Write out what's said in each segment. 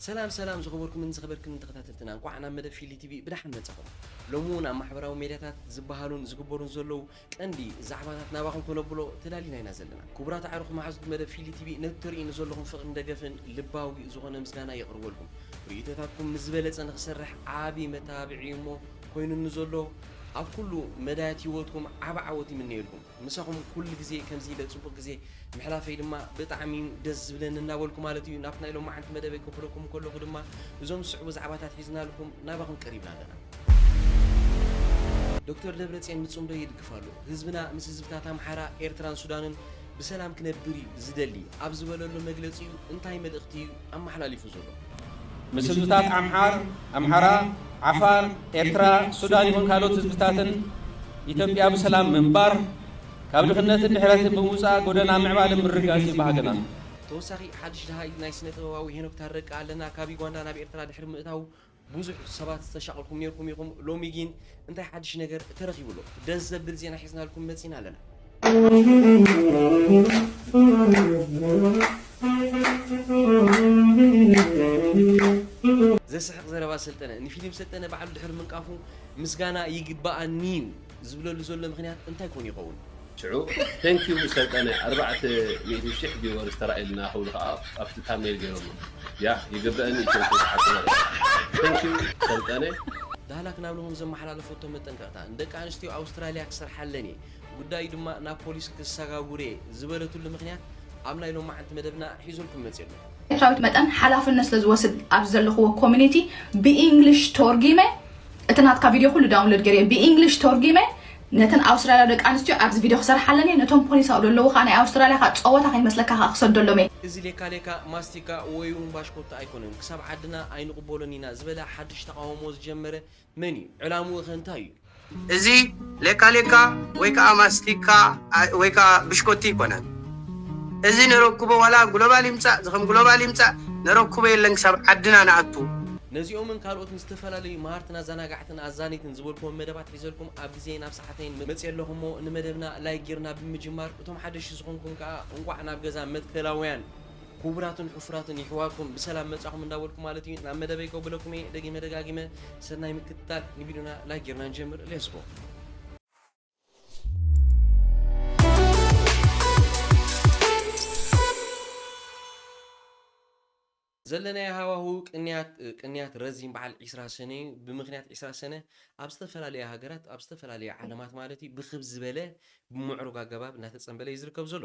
ሰላም ሰላም ዝኸበርኩምን ዝኸበርክንን ተኸታተልትና እንቋዕ ናብ መደብ ፊሊ ቲቪ ብደሓን መጻኹም። ሎሚ ውን ኣብ ማሕበራዊ ሜድያታት ዝበሃሉን ዝግበሩን ዘለዉ ቀንዲ ዛዕባታት ናባኹም ከነብሎ ተዳሊና ኢና ዘለና። ክቡራት ኣዕሩኽ መሓዙት መደብ ፊሊ ቲቪ ነቲ ተርእዩኒ ዘለኹም ፍቕርን ደገፍን ልባዊ ዝኾነ ምስጋናይ የቕርበልኩም። ርእይቶታትኩም ምስ ዝበለጸ ንኽሰርሕ ዓቢ መተባብዒ እዩ እሞ ኮይኑኒ ዘሎ ኣብ ኩሉ መዳያት ሂወትኩም ዓቢ ዓወት ይምነየልኩም። ምሳኹም ኩሉ ግዜ ከምዚ ኢለ ጽቡቅ ግዜ ምሕላፈይ ድማ ብጣዕሚ እዩ ደስ ዝብለኒ እናበልኩ ማለት እዩ ናብቲ ናይ ሎማዓንቲ መደበይ ከብለኩም ከለኹ ድማ እዞም ዝስዕቡ ዛዕባታት ሒዝናልኩም ናባኹም ቀሪብና ኣለና። ዶክተር ደብረጽዮን ንጽምዶ ይድግፍ ኣሎ። ህዝብና ምስ ህዝብታት ኣምሓራ፣ ኤርትራን ሱዳንን ብሰላም ክነብር እዩ ዝደሊ ኣብ ዝበለሉ መግለጺኡ እንታይ መልእኽቲ እዩ ኣመሓላሊፉ ዘሎ። ምስ ህዝብታት ዓምሓር፣ ኣምሓራ፣ ዓፋር፣ ኤርትራ፣ ሱዳን ይኹን ካልኦት ህዝብታትን ኢትዮጵያ ብሰላም ምንባር፣ ካብ ድኽነትን ድሕረትን ብምውጻእ ጎደና ምዕባለ ምርጋጽ'ዩ ባህግና። ተወሳኺ ሓድሽ ደሃይ ናይ ስነ ጥበባዊ ሄኖክ ታረቀ ኣለና ካብ ዩጋንዳ ናብ ኤርትራ ድሕሪ ምእታዉ ቡዙሕ ሰባት ዝተሻቀልኩም ኔርኩም ኢኩም ሎሚ ጊን እንታይ ሓድሽ ነገር ተረኪቡ ኣሎ ደስ ዘብል ዜና ሒዝናልኩም መጺና ኣለና። ዘስሕቅ ዘረባ ሰልጠነ ንፊሊም ሰልጠነ ባዕሉ ድሕሪ ምንቃፉ ምስጋና ይግባኣኒዩ ዝብለሉ ዘሎ ምክንያት እንታይ ኮን ይከውን? ሽዑ Thank you ሰልጠነ ኣርባዕተ ሚእቲ ሽሕ ቪወርስ ተራእዩልና ክብሉ ከኣ ኣብቲ ታምኔል ጌሮሞ ያህ ይግበእኒ እዩ ቸንኩ ብሓቂ መሪር Thank you ሰልጠነ። ዳህላክ ናብ ንሆም ዘመሓላለፈቶ መጠንቀቕታ፣ ንደቂ ኣንስትዮ ኣውስትራልያ ክሰርሓለን እየ፣ ጉዳዩ ድማ ናብ ፖሊስ ክሰጋጉር'የ ዝበለትሉ ምኽንያት ኣብ ናይ ሎማዕንቲ መደብና ሒዙልኩም መጺኡ ኣሎ። ኤርትራዊት መጠን ሓላፍነት ስለ ዝወስድ ኣብዚ ዘለኽዎ ኮሚኒቲ ብኢንግሊሽ ቶርጊመ እቲ ናትካ ቪድዮ ኩሉ ዳውንሎድ ገይረዮ ብኢንግሊሽ ቶርጊመ ነተን ኣውስትራልያዊ ደቂ ኣንስትዮ ኣብዚ ቪድዮ ክሰርሓለን እየ ነቶም ፖሊስ ኣብኡ ዘለዉ ከኣ ናይ ኣውስትራልያ ከኣ ጸወታ ከይመስለካ ከኣ ክሰደሎም እየ። እዚ ሌካ ሌካ ማስቲካ ወይውን ባሽኮታ ኣይኮነን ክሳብ ዓድና ኣይንቕበሎን ኢና ዝበለ ሓድሽ ተቓውሞ ዝጀመረ መን እዩ? ዕላምኡኸ እንታይ እዩ? እዚ ሌካ ሌካ ወይ ከኣ ማስቲካ ወይ ከኣ ብሽኮቲ ኣይኮነን። እዚ ነረኩቦ ዋላ ግሎባል ይምጻእ ዝኸም ግሎባል ይምጻእ ነረኩቦ የለን ክሳብ ዓድና ንኣቱ። ነዚኦምን ካልኦትን ዝተፈላለዩ መሃርትን ኣዛናጋዕትን ኣዛነይትን ዝበልኩዎም መደባት ሒዘልኩም ኣብ ግዜይን ኣብ ሰዓተይን መጽየ ኣለኹ እሞ ንመደብና ላይክ ጌርና ብምጅማር እቶም ሓደሽቲ ዝኾንኩም ከኣ እንቋዕ ናብ ገዛ መትከላውያን ኩቡራትን ሑፉራትን ይሕዋኩም ብሰላም መጻኩም እንዳበልኩ ማለት እዩ ናብ መደበይ ከብለኩም እየ ደጊመ ደጋጊመ ሰናይ ምክትታል ንቪድዮና ላይክ ጌርና ንጀምር ሌትስ ጎ ዘለናዮ ሃዋህው ቅንያት ቅንያት ረዚን በዓል ዒስራ ሰነ እዩ ብምክንያት ዒስራ ሰነ ኣብ ዝተፈላለያ ሃገራት ኣብ ዝተፈላለያ ዓለማት ማለት እዩ ብክብ ዝበለ ብምዕሩግ ኣገባብ እናተጸንበለ እዩ ዝርከብ ዘሎ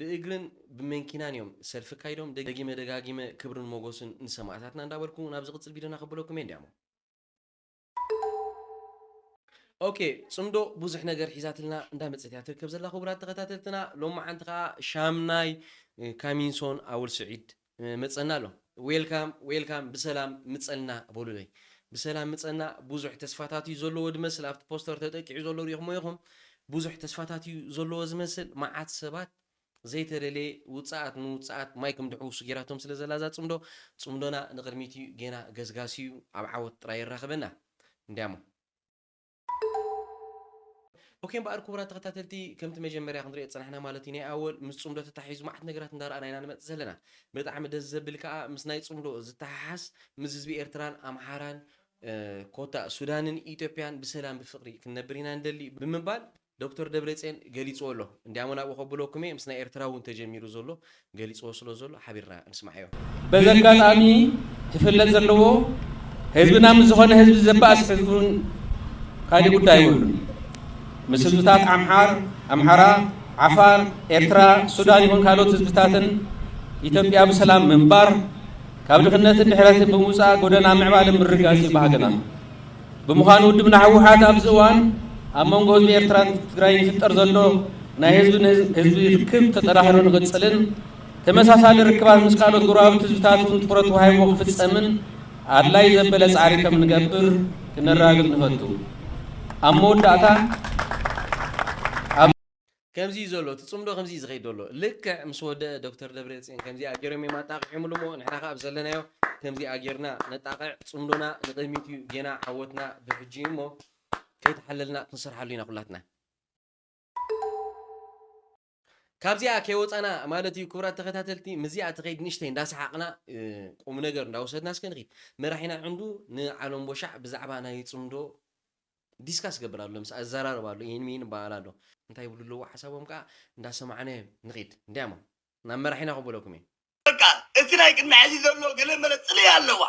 ብእግርን ብመንኪናን እዮም ሰልፊ ኣካይዶም ደጊመ ደጋጊመ ክብርን ሞጎስን ንሰማእታትና እንዳበልኩ ናብ ዝቅጽል ቪድዮና ከብለኩም እየ እንዲያሞ። ኦኬ ጽምዶ ቡዙሕ ነገር ሒዛትልና እንዳ መጸት እያ ትርከብ ዘላ ኩቡራት ተኸታተልትና ሎማዓንቲ ከኣ ሻምናይ ካሚንሶን ኣወል ስዒድ መጸና ኣሎ ዌልካም ዌልካም ብሰላም ምጸና በሉለይ ብሰላም ምጸና ቡዙሕ ተስፋታት እዩ ዘለዎ ድመስል ኣብቲ ፖስተር ተጠቂዑ ዘሎ ሪኢኽሞ ኢኹም ቡዙሕ ተስፋታት እዩ ዘለዎ ዝመስል ማዓት ሰባት ዘይተደለየ ውጻኣት ንውጻኣት ማይ ክምድሕውሱ ጌራቶም ስለ ዘላ እዛ ጽምዶ ጽምዶና ንቅድሚት እዩ ጌና ገስጋስ እዩ ኣብ ዓወት ጥራይ የራኽበና እንድያሞ ኦኬ እምበኣር ክቡራት ተኸታተልቲ ከምቲ መጀመርያ ክንሪኦ ዝጸናሕና ማለት እዩ ናይ ኣወል ምስ ጽምዶ ተታሒዙ መዓት ነገራት እንዳረኣና ኢና ንመጽእ ዘለና ብጣዕሚ ደስ ዘብል ከኣ ምስ ናይ ጽምዶ ዝተሓሓዝ ምስ ህዝቢ ኤርትራን ኣምሓራን ኮታ ሱዳንን ኢትዮጵያን ብሰላም ብፍቅሪ ክንነብር ኢና ንደሊ ብምባል ዶክተር ደብረጼን ገሊጽዎ ኣሎ እንድያሞ ናብኡ ከብለኩም እየ ምስ ናይ ኤርትራ ውን ተጀሚሩ ዘሎ ገሊጽዎ ስለ ዘሎ ሓቢርና ንስማዓዮ። በዚ ኣጋጣሚ ክፍለጥ ዘለዎ ህዝብና ምስ ዝኾነ ህዝቢ ዘባእስ ሕዝቡን ካሊእ ጉዳይ የብሉን። ምስ ህዝብታት ዓምሓር፣ ኣምሓራ፣ ዓፋር፣ ኤርትራ፣ ሱዳን ይኹን ካልኦት ህዝብታትን ኢትዮጵያ ብሰላም ምንባር ካብ ድኽነትን ድሕረትን ብምውጻእ ጎደና ምዕባለ ምርጋጽ እዩ ባህግና። ብምዃኑ ውድብና ህወሓት ኣብዚ እዋን ኣብ መንጎ ህዝቢ ኤርትራን ትግራይን ዝፍጠር ዘሎ ናይ ህዝቢ ንህዝቢ ርክብ ተጠናኺሩ ንኽጽልን ተመሳሳሊ ርክባት ምስ ካልኦት ጎረባብቲ ህዝብታት እውን ትኹረት ተዋሂብዎ ክፍጸምን ኣድላይ ዘበለ ጻዕሪ ከም ንገብር ክነራግብ ንፈቱ። ኣብ መወዳእታ ከምዚ እዩ ዘሎ እቲ ጽምዶ ከምዚ እዩ ዝኸይድ ዘሎ ልክዕ ምስ ወደኣ ዶክተር ደብረጽዮን ከምዚኣ ጌሮም እዮም ኣጣቂዖምሉ እሞ ንሕና ከኣ ኣብ ዘለናዮ ከምዚኣ ጌርና ነጣቕዕ ጽምዶና ንቕድሚት እዩ ጌና ዓወትና ብሕጂ እዩ እሞ ከይተሓለልና ክንሰርሓሉ ኢና ኩላትና ካብዚኣ ከይወጻና ማለት እዩ ክቡራት ተኸታተልቲ ምዚኣ ትኸይድ ንእሽተይ እንዳሰሓቕና ቁም ነገር እንዳወሰድና እስከ ንኺድ መራሒና ዕንዱ ንዓለም ቦሻዕ ብዛዕባ ናይ ጽምዶ ዲስካስ ይገብር ኣሎ ምስኣ ይዘራረብ ኣሎ ኢሂን ምሂን ይበሃሃል ኣሎ። እንታይ ይብሉ ኣለዉ ሓሳቦም ከኣ እንዳ ሰማዕና ንኺድ እንድያ እሞ ናብ መራሒና ክበለኩም እየ። በቃ እቲ ናይ ቅድሚ ሐዚ ዘሎ ገለ መለ ፅልኢ ኣለዋ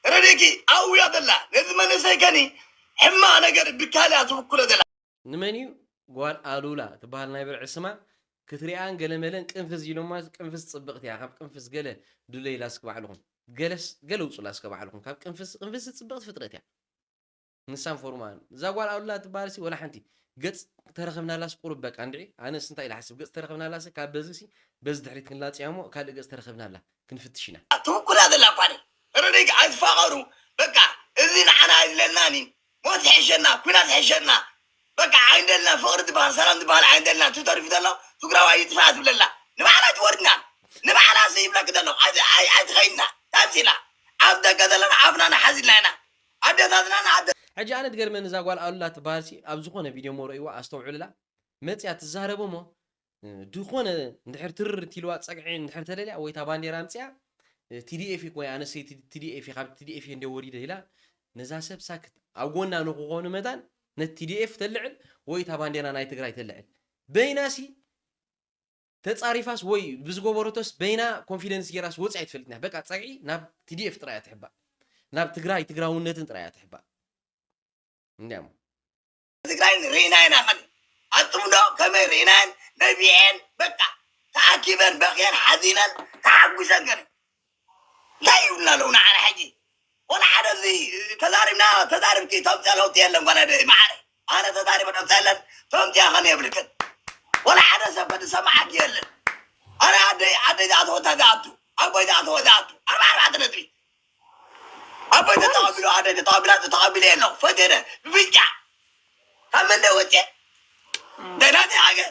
ረድኤኪ ኣብያ ዘላ ነዚ መንእሰይ ከኒ ሕማቅ ነገር ብካሊ እያ ትብኩሎ ዘላ። ንመን እዩ ጓል ኣሉላ ትበሃል ናይ ብርዒ ስማ ክትሪኣን ገለ መለን ቅንፍዝ ኢሎማ ቅንፍዝ ጽብቅቲ እያ ካብ ቅንፍዝ ገለ ድለይላ እስኪ ባዕልኩም ገለስ ገለ ውጹላ እስከ ባዕልኩም ካብ ቅንፍዝ ቅንፍዝ ጽብቅቲ ፍጥረት እያ። ንሳን ፎርማን እዛ ጓል ኣሉላ ትበሃልሲ ወላ ሓንቲ ገጽ ተረኽብናላስ ቁሩብ በቃ እንድዒ ኣነስ እንታይ ኢለ ሓስብ ገጽ ተረኽብናላሲ ካብ በዚሲ በዚ ድሕሪት ክንላጸያ እሞ ካልእ ገጽ ተረኽብናላ ክንፍትሽ ኢና። ትውኩላ ዘላ እኳ ን ርዲግ ኣይትፋቀሩ በቃ እዚ ንዓና ኣይድለናን እዩ ሞት ይሕሸና ኩናት ይሕሸና በቃ ኣይንደልና ፍቅሪ ትባሃል ሰላም ትባሃል ኣይንደልና እቲ ተሪፉ ዘሎ ትግራዋይ ይጥፋእ ትብለላ ንባዕላ ትወርድና ንባዕላ ሲ ይብለኪ ዘሎ ኣይትከይድና ታይ ምሲላ ኣብ ደገ ዘለና ኣፍና ንሓዝ ኢልና ኢና ኣደታትና ንኣደ ሕጂ ኣነ ትገርመኒ እዛ ጓል ኣሉላ ትባሃል ሲ ኣብ ዝኮነ ቪድዮ እሞ ረእይዋ ኣስተውዕሉላ መጽያ ትዛረብ እሞ ድኮነ እንድሕር ትርር ትልዋ ጸግዒ እንድሕር ተደልያ ወይ እታ ባንዴራ ኣምጽያ TDF እኮ እያ ኣነሰይ TDF እየ ካብ TDF እየ እንደ ወሪደ ኢላ ነዛ ሰብ ሳክት ኣብ ጎና ንክኾኑ መታን ነት TDF ተልዕል ወይ እታ ባንዴራ ናይ ትግራይ ተልዕል በይናሲ ተጻሪፋስ ወይ ብዝገበረቶስ በይና ኮንፊደንስ ጌራስ ወጺኣ ኣይትፈልጥን እያ በቃ ጸግዒ ናብ ቲዲኤፍ ጥራይ እያ ትሕባእ ናብ ትግራይ ትግራውነትን ጥራይ እያ ትሕባእ እንዲያ እሞ ትግራይን ርኢና ኢና ከን ኣብ ጽምዶ ከመይ ርኢናየን ነቢዔን በቃ ተኣኪበን በኽየን ሓዚነን ተሓጉሰን ከን እንታይ ይብሉና ኣለዉ ንዓና ሕጂ ወላ ሓደ እዚ ተዛሪብና ተዛሪብኪ ተምፅኦ ለውጢ የለን ጓል ኣደይ መዓረይ ኣነ ተዛሪበ ለውጢ የለን ተምፅኦ ከን የብልክን ወላ ሓደ ሰብ ከ ዝሰማዓኪ የለን ኣነ ኣደይ ኣደይ ዝኣተወታ ዝኣቱ ኣቦይ ዝኣተወ ዝኣቱ ኣርባ ኣርባዕተ ነጥቢ ኣቦይ ተተቐቢሉ ኣደይ ተተቐቢላ ተተቐቢለ የለ ፈቴደ ብፍጫ ካብ መንደ ወፅየ ደናተይ ሃገር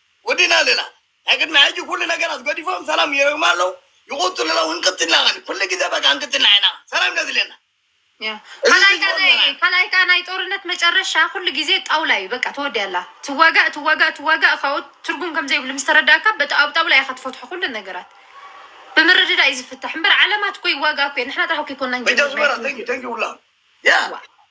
ወዲእና ኣለና ናይ ቅድሚ ሕጂ ኩሉ ነገራት ገዲፎም ሰላም ይረግሙ ኣለዉ ይቁጽሉ ኣለዉ ክንቅትልና ከን ኩሉ ግዜ በቃ ክንቅትልና ኢና ሰላም ኢና ዝድልየና ካላይ ካዓ ናይ ጦርነት መጨረሻ ኩሉ ግዜ ጣውላ እዩ በቃ ተወዲያ ኣላ ትዋጋእ ትዋጋእ ትዋጋእ ካኡ ትርጉም ከምዘይብሉ ምስ ተረዳእካ በጣ ኣብ ጣውላ ኢካ ትፈትሖ ኩሉ ነገራት ብምርድዳእ እዩ ዝፍታሕ እምበር ዓለማት እኮ ይዋጋእ እኮ እየን ንሕና ጥራሕ እኮ ኣይኮናን ጀሚርና Thank you, thank you, Ulla. Yeah.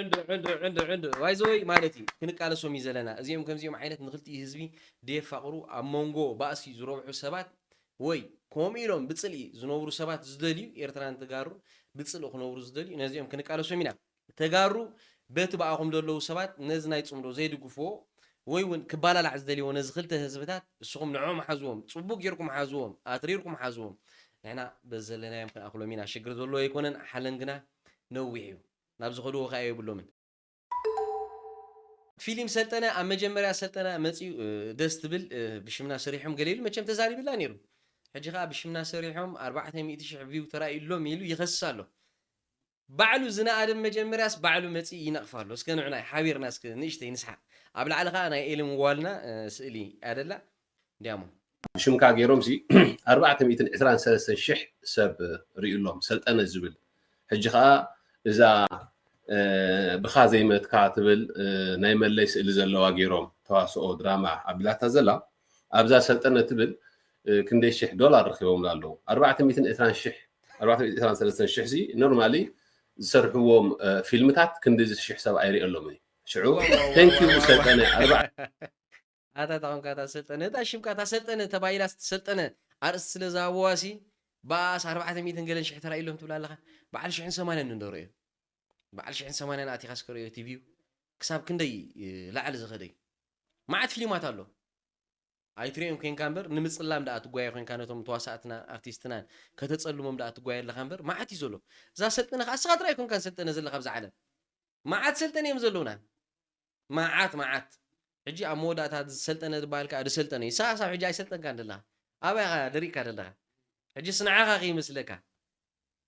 ዕንዱ ዕንዱ ዕንዱ ዕንዱ ዋይዘወይ ማለት እዩ ክንቃለሶም እዩ ዘለና እዚኦም ከምዚኦም ዓይነት ንክልቲኡ ህዝቢ ደየፋቕሩ ኣብ መንጎ ባእሲ ዝረብሑ ሰባት ወይ ከምኡ ኢሎም ብፅልኢ ዝነብሩ ሰባት ዝደልዩ ኤርትራን ተጋሩ ብፅልኢ ክነብሩ ዝደልዩ ነዚኦም ክንቃለሶም ኢና ተጋሩ በቲ ብኣኹም ዘለዉ ሰባት ነዚ ናይ ፅምዶ ዘይድግፍዎ ወይ ውን ክባላላዕ ዝደልዎ ነዚ ክልተ ህዝብታት እስኹም ንዕኦም ሓዝዎም ጽቡቅ ጌርኩም ሓዝዎም ኣትሪርኩም ሓዝዎም ንሕና በዚ ዘለናዮም ክንኣኽሎም ኢና ሽግር ዘለዎ ኣይኮነን ሓለን ግና ነዊሕ እዩ ናብ ዝኸድዎ ከኣ የብሎምን። ፊሊም ሰልጠነ ኣብ መጀመርያ ሰልጠነ መጽዩ ደስ ትብል ብሽምና ሰሪሖም ገለ ኢሉ መቸም ተዛሪብላ ኔሩ ሕጂ ከኣ ብሽምና ሰሪሖም ኣርባዕተ ሚእቲ ሽሕ ቪው ተራእዩሎም ኢሉ ይኸስስ ኣሎ ባዕሉ ዝነኣደ ብ መጀመርያስ ባዕሉ መጺኡ ይነቅፋ ኣሎ እስከ ንዑ ናይ ሓቢርና እስከ ንእሽተይ ንስሓቅ ኣብ ላዕሊ ከኣ ናይ ኤሊ ምዋልና ስእሊ ኣደላ ድያሞ። ሽምካ ጌሮም ሲ ኣርባዕተ ሚእትን ዕስራን ሰለስተን ሽሕ ሰብ ሪኡሎም ሰልጠነ ዝብል ሕጂ ከኣ እዛ ብካ ዘይመትካ ትብል ናይ መለይ ስእሊ ዘለዋ ጌሮም ተዋስኦ ድራማ ኣብላታ ዘላ ኣብዛ ሰልጠነ ትብል ክንደይ ሽሕ ዶላር ረኪቦምላ ኣለዉ ኣርባዕተ ሚእትን ዕስራን ሽሕ ኣርባዕተ ሚእትን ዕስራን ሰለስተን ሽሕ ሲ ኖርማሊ ዝሰርሕዎም ፊልምታት ክንዲዚ ሽሕ ሰብ ኣይርእየሎምን እዩ ሽዑ ቴንክ ዩ ሰልጠነ ኣርባዕተ ኣታ ተኾንካ እታ ሰልጠነ እታ ሽምካ እታ ሰልጠነ ተባሂላ ሰልጠነ ኣርእስቲ ስለ ዝሃብዋሲ ብኣስ ኣርባዕተ ሚእትን ገለን ሽሕ ተራእዩሎም ትብላ ኣለኻ በዓል ሽሕን ሰማንያን እንዶ ርእዮ በዓል ሽሕን ሰማንያን ኣቲኻ እስከ ርእዮ እቲ ቪው ክሳብ ክንደይ ላዕሊ ዝኸደ እዩ መዓት ፊሊማት ኣሎ ኣይትሪኦን ኮንካ እምበር ንምጽላም ደኣ ትጓየ ኮንካ ነቶም ተዋሳእትና ኣርቲስትናን ከተጸልሞም ደኣ ትጓየ ኣለኻ እምበር መዓት እዩ ዘሎ እዛ ሰልጠነ ከኣ እስኻ ጥራይ ኣይኮንካን ሰልጠነ ዘለካ ኣብዛ ዓለም መዓት ሰልጠነ እዮም ዘለውና መዓት መዓት ሕጂ ኣብ መወዳእታ ዝሰልጠነ ዝበሃል ከኣ ድሰልጠነ እዩ ሳኣሳብ ሕጂ ኣይሰልጠንካን ደለኻ ኣበይ ኢኻ ደሪቕካ ደለኻ ሕጂስ ንዓኻ ከይመስለካ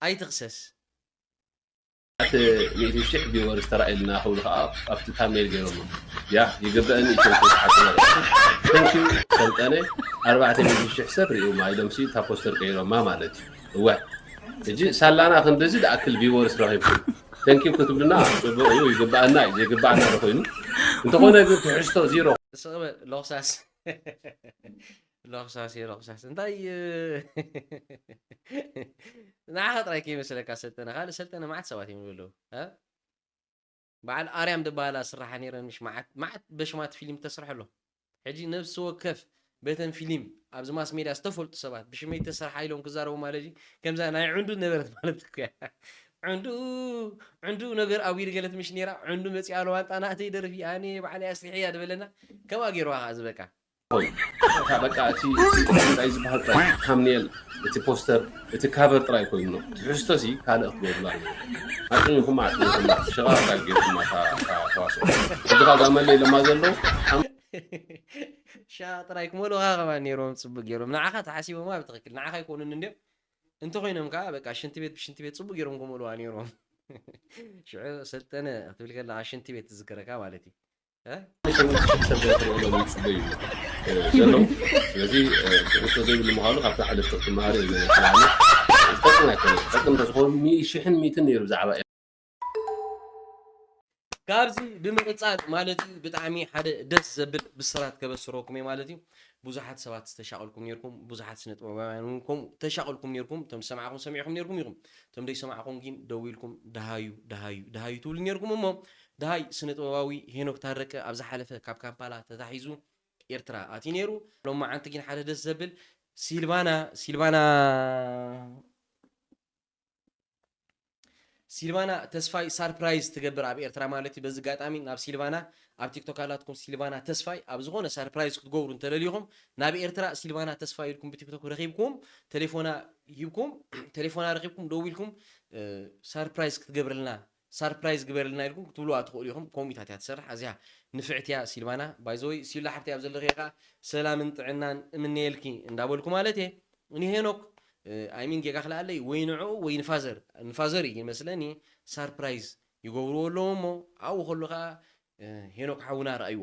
ኣይትኽሰስ ኣቲ ሚእቲ ሽሕ ቪወርስ ተራእየልና ክብሉ ከኣ ኣብቲ ታምኔል ጌሮሞ ያህ ይግበእኒ ኢትዮም ከይትሓሱ ነብዕኩም ተንኪው ሰልጠነ ኣርባዕተ ሚእቲ ሽሕ ሰብ ሪእዩማ ኢሎም ሲ እታ ፖስተር ቀይሮማ ማለት እዩ እወ ሕጂ ሳላና ክንድዚ ድኣክል ቪወርስ ረኺብኩም Thank you ክትብልና ጽቡቅ እዩ ይግባኣና እዩ ዘይግባኣና ዶ ኮይኑ እንተኾነ ግን ትሕዝቶ ዚሮ ስቕ በል ሎኽሳስ ሎኽሳስ እየ ሎኽሳስ እንታይ ንዓኻ ጥራይ ከይመስለካ ሰልጠነ ካልእ ሰልጠነ መዓት ሰባት እዮም ዘለዉ በዓል ኣርያም ዝበሃላ ስራሓ ነይረን ምሽ መዓት መዓት በሽማት ፊልም ተስርሐ ኣሎ ሕጂ ነብሲ ወከፍ በተን ፊሊም ኣብዚ ማስ ሜድያ ዝተፈልጡ ሰባት ብሽመይ ተሰርሓ ኢሎም ክዛረቡ ማለት'ዩ ከምዛ ናይ ዕንዱ ዝነበረት ማለት እኮ'ያ ዕንዱ ዕንዱ ነገር ኣጉ ይርገለት ምሽ ነይራ ዕንዱ መጺኣ ለዋንጣ ናእተይ ደርፊ ኣነ ባዕለይ ኣስሪሐያ ዝበለና ከምኣ ገይርዋ ከኣ ዝበቃ። እታ በቃ እቲ እቲ እንታይ ዝበሃል ጥራይ ታምኔል እቲ ፖስተር እቲ ካቨር ጥራይ ኮይኑ ትሕዝቶ ሲ ካልእ ክትገብርሉ ኣለዎ ኣጽሚኹማ ኣጽሚኹማ ሸቃቕጣ ጌርኩማ እታ ተዋስኦ ሕጂኻ እዛ መለይ ለማ ዘለዉ ሸቃቕ ጥራይ ክመልኡኻ ከማን ነይሮም ጽቡቅ ጌሮም ንዓኻ ተሓሲቦማ ብትኽክል ንዓኻ ኣይኮኑን እንድዮም እንተኾይኖም ከኣ በቃ ሽንቲ ቤት ብሽንቲ ቤት ጽቡቅ ጌሮም ክመልኡዋ ነይሮም ሽዑ ሰልጠነ ክትብል ከለኻ ሽንቲ ቤት ትዝክረካ ማለት እዩ ካብዚ ብምቅፃል ማለት እዩ ብጣዕሚ ሓደ ደስ ዘብል ብስራት ከበስረኩም እየ ማለት እዩ ብዙሓት ሰባት ዝተሻቀልኩም ነርኩም ብዙሓት ስነ ጥበባውያን እውን ከምኡ ተሻቀልኩም ነርኩም እቶም ዝሰማዕኩም ሰሚዕኩም ነርኩም ኢኹም እቶም ደይሰማዕኩም ግን ደዊልኩም ደሃዩ ደሃዩ ደሃዩ ትብሉ ነርኩም እሞ ደሃይ ስነ-ጥበባዊ ሄኖክ ታረቀ ኣብ ዝሓለፈ ካብ ካምፓላ ተታሒዙ ኤርትራ ኣትዩ ኔሩ። ሎማዓንቲ ጊን ሓደ ደስ ዘብል ሲልቫና ሲልቫና ሲልቫና ተስፋይ ሳርፕራይዝ ትገብር ኣብ ኤርትራ ማለት እዩ። በዚ ጋጣሚ ናብ ሲልቫና ኣብ ቲክቶክ ኣላትኩም ሲልቫና ተስፋይ ኣብ ዝኾነ ሳርፕራይዝ ክትገብሩ እንተለሊኹም ናብ ኤርትራ ሲልቫና ተስፋይ ኢልኩም ብቲክቶክ ረኺብኩም ተሌፎና ሂብኩም ተሌፎና ረኺብኩም ደዊልኩም ሳርፕራይዝ ክትገብርልና ሳርፕራይዝ ግበርልና ኢልኩም ክትብልዋ ትኽእሉ ኢኹም ኮምኢታት እያ ትሰርሕ ኣዝያ ንፍዕቲ እያ ሲልባና ባይ ዘ ወይ ሲላ ሓፍተይ ኣብ ዘለኽዮ ከኣ ሰላምን ጥዕናን እምነየልኪ እንዳ በልኩ ማለት እየ ንሄኖክ ኣይ ሚን ጌጋ ክልኣለይ ወይ ንዕኡ ወይ ንፋዘር ንፋዘር እዩ ይመስለኒ ሳርፕራይዝ ይገብርዎ ኣለዉ እሞ ኣብኡ ከሎ ከኣ ሄኖክ ሓውና ርኣይዎ።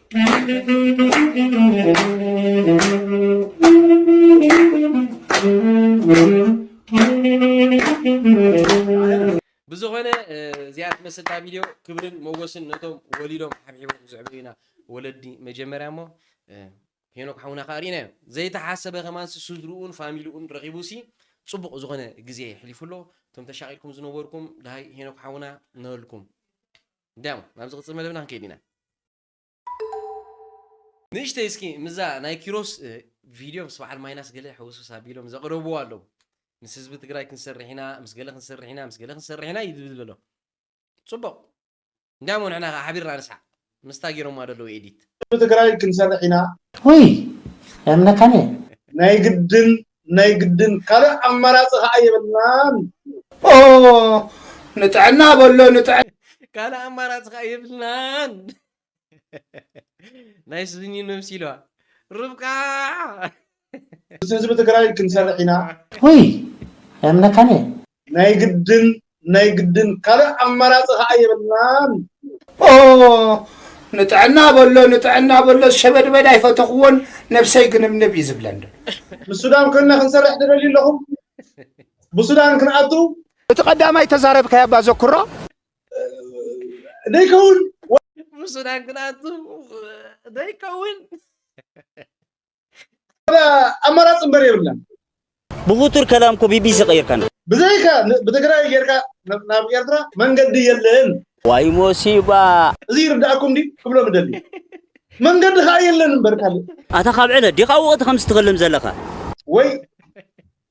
ብዝኾነ እዚኣ ትመስል እታ ቪድዮ ክብርን መጎስን ነቶም ወሊዶም ሓብሒቦም ዘዕበዩና ወለዲ መጀመርያ እሞ ሄኖክ ሓውና ከዓ ርኢናዮ ዘይተሓሰበ ከማንሲ ስድርኡን ፋሚልኡን ረኺቡሲ ፅቡቕ ዝኾነ ግዜ የሕሊፉ ኣሎ እቶም ተሻቒልኩም ዝነበርኩም ድሃይ ሄኖክ ሓውና ንበልኩም እንድያም ናብ ዝቕጽል መደብና ክንከይድ ኢና። ንእሽተይ እስኪ ምስዛ ናይ ኪሮስ ቪድዮ ምስ በዓል ማይናስ ገለ ሕውስውስ ኣቢሎም ዘቕረብዎ ኣለዉ። ምስ ህዝቢ ትግራይ ክንሰርሕ ኢና፣ ምስ ገለ ክንሰርሕ ኢና፣ ምስ ገለ ክንሰርሕ ኢና እዩ ዝብል ዘሎ። ጽቡቕ እንድያሞ ንሕና ከኣ ሓቢርና ንስሓቕ ምስታ ጌሮማ ዘለዉ ኤዲት። ህዝቢ ትግራይ ክንሰርሕ ኢና። ውይ የምነካን እየ። ናይ ግድን ናይ ግድን ካልእ ኣማራጺ ከኣ የብልናን። ኦህ ንጥዕና በሎ ንጥዕና። ካልእ ኣማራጺ ከኣ የብልናን። ናይ ስኒ መምሲሏ ርብቃ። ምስ ህዝቢ ትግራይ ክንሰርሕ ኢና። ውይ ኣይምነካን እየ። ናይ ግድን ናይ ግድን ካልእ ኣማራጺ ከኣ የብልናን። ኦህ ንጥዕና በሎ ንጥዕና በሎ ሸበድበድ ኣይፈተኽዎን ነብሰይ ግንብንብ እዩ ዝብለን ደሎ። ምስ ሱዳን ኮይንና ክንሰርሕ ትደልዩ ኣለኹም ብሱዳን ክንኣቱ። እቲ ቀዳማይ ተዛረብካያ እባ ዘኩሮ። ደይከውን። ብሱዳን ክንኣቱ ደይከውን። ኣማራፂ እምበር የብልናን ብቡቱር ከላም እኮ ቢቢሲ ቀይርካና ብዘይካ ብትግራይ ጌርካ ናብ ኤርትራ መንገዲ የለን ዋይ ሞሲባ እዚ ይርዳእኩም ዲ ክብሎ ምደሊ መንገዲ ከዓ የለን እምበር ካልእ ኣታ ካብ ዕለ ዲኻ ወቕቲ ከም ስትኸልም ዘለኻ ወይ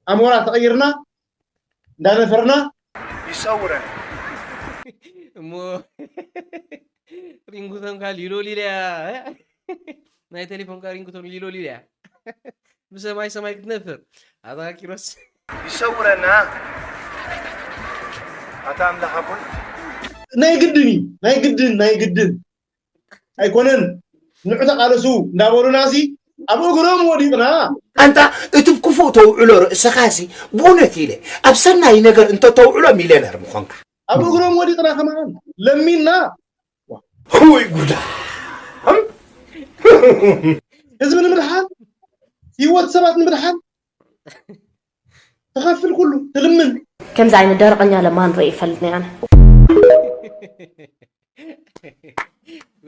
ኣሞራ ተቐይርና እንዳነፈርና ይሰውረን እሞ ሪንጉቶን ካል ይሎሊለያ ናይ ቴሌፎን ካ ሪንጉቶን ይሎሊለያ ብሰማይ ሰማይ ክትነፍር ኣታ ኪሮስ ይሰውረና ኣታ ኣምላኽ ኣቦይ ናይ ግድን እዩ ናይ ግድን ናይ ግድን ኣይኮነን ንዑ ተቃለሱ እንዳበሉና ሲ ኣብ እግሮም ወዲቕና ኣንታ እቲ ክፉእ ተውዕሎ ርእስኻ እዚ ብእውነት ኢለ ኣብ ሰናይ ነገር እንተተውዕሎ ሚልዮነር ምኾንካ ኣብ እግሮም ወዲቕና ከማን ለሚና ወይ ጉዳ ህዝቢ ንምድሓን ህይወት ሰባት ንምድሓን ተኸፍል ኩሉ ትልምን ከምዚ ዓይነት ደረቐኛ ለማን ርኢ ይፈልጥኒ ኣነ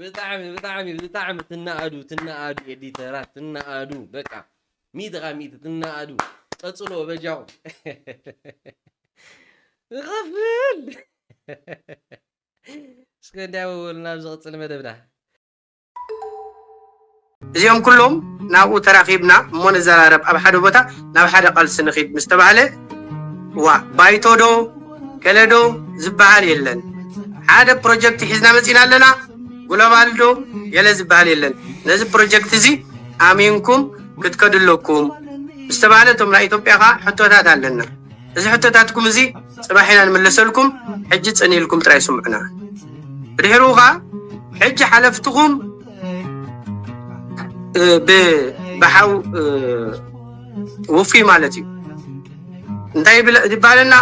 ብጣዕሚ ብጣዕሚ ብጣዕሚ ትናኣዱ ትናኣዱ ኤዲተራት ትናኣዱ በቃ ሚእቲ ካብ ሚእቲ ትናኣዱ ቀፅሎ በጃኹ ይኸፍል እስከ እንዲያ ወወልና ኣብ ዝቕፅል መደብና እዚኦም ኩሎም ናብኡ ተራኺብና እሞ ንዘራረብ ኣብ ሓደ ቦታ ናብ ሓደ ቃልሲ ንኺድ ምስ ተባህለ ዋእ ባይቶ ዶ ገለ ዶ ዝበሃል የለን ሓደ ፕሮጀክት ሒዝና መጺእና ኣለና ጉለባል ዶ ገለ ዝበሃል የለን ነዚ ፕሮጀክት እዚ ኣሚንኩም ክትከዱ ኣለኩም ምስ ተባህለ እቶም ናይ ኢትዮጵያ ኸኣ ሕቶታት ኣለና እዚ ሕቶታትኩም እዚ ጽባሕ ኢና ንምለሰልኩም ሕጂ ጽን ኢልኩም ጥራይ ስምዑና ብድሕሩ ከኣ ሕጂ ሓለፍትኹም ብሓው ውፉይ ማለት እዩ እንታይ ይባለና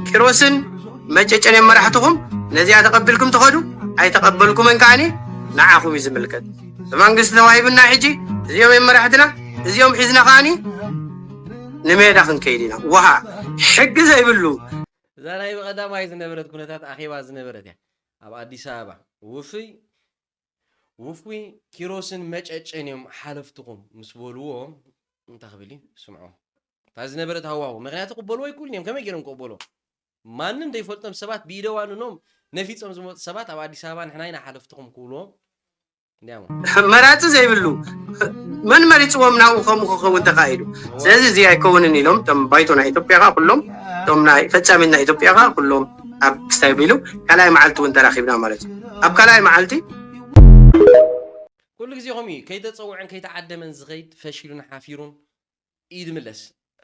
ኪሮስን መጨጨን መራሕትኹም ነዚኣ ተቐቢልኩም ትኸዱ ኣይተቐበልኩምን ከዓኒ ንዓኹም እዩ ዝምልከት መንግስቲ ተዋሂብና ሕጂ እዚኦም እዮም መራሕትና እዚኦም ሒዝና ከዓኒ ንሜዳ ክንከይድ ኢና ዋሃ ሕጊ ዘይብሉ እዛ ናይ ብቐዳማይ ዝነበረት ኩነታት ኣኼባ ዝነበረት እያ ኣብ ኣዲስ ኣበባ። ውፍይ ውፉይ ኪሮስን መጨጨን እዮም ሓለፍትኹም ምስ በልዎ እንታይ ክብል እዩ ስምዖ እታ ዝነበረት ሃዋሁ ምክንያቱ ክበልዎ ኣይክእሉን እዮም ከመይ ገይሮም ክቕበልዎ ማንም ዘይፈልጦም ሰባት ብኢደ ዋንኖም ነፊጾም ዝመጹ ሰባት ኣብ ኣዲስ ኣበባ ንሕና ኢና ሓለፍትኹም ክብልዎም እንዲያሞ። መራጺ ዘይብሉ መን መሪጽዎም ናብኡ ከምኡ ክኸውን ተኻኢሉ። ስለዚ እዚ ኣይከውንን ኢሎም እቶም ባይቶ ናይ ኢትዮጵያ ከኣ ኩሎም እቶም ናይ ፈጻሚት ናይ ኢትዮጵያ ከኣ ኩሎም ኣብ ክሳይ ቢሉ ካልኣይ መዓልቲ እውን ተራኺብና ማለት እዩ። ኣብ ካልኣይ መዓልቲ ኩሉ ግዜ ከምኡ እዩ ከይተጸውዐን ከይተዓደመን ዝኸይድ ፈሺሉን ሓፊሩን እዩ ዝምለስ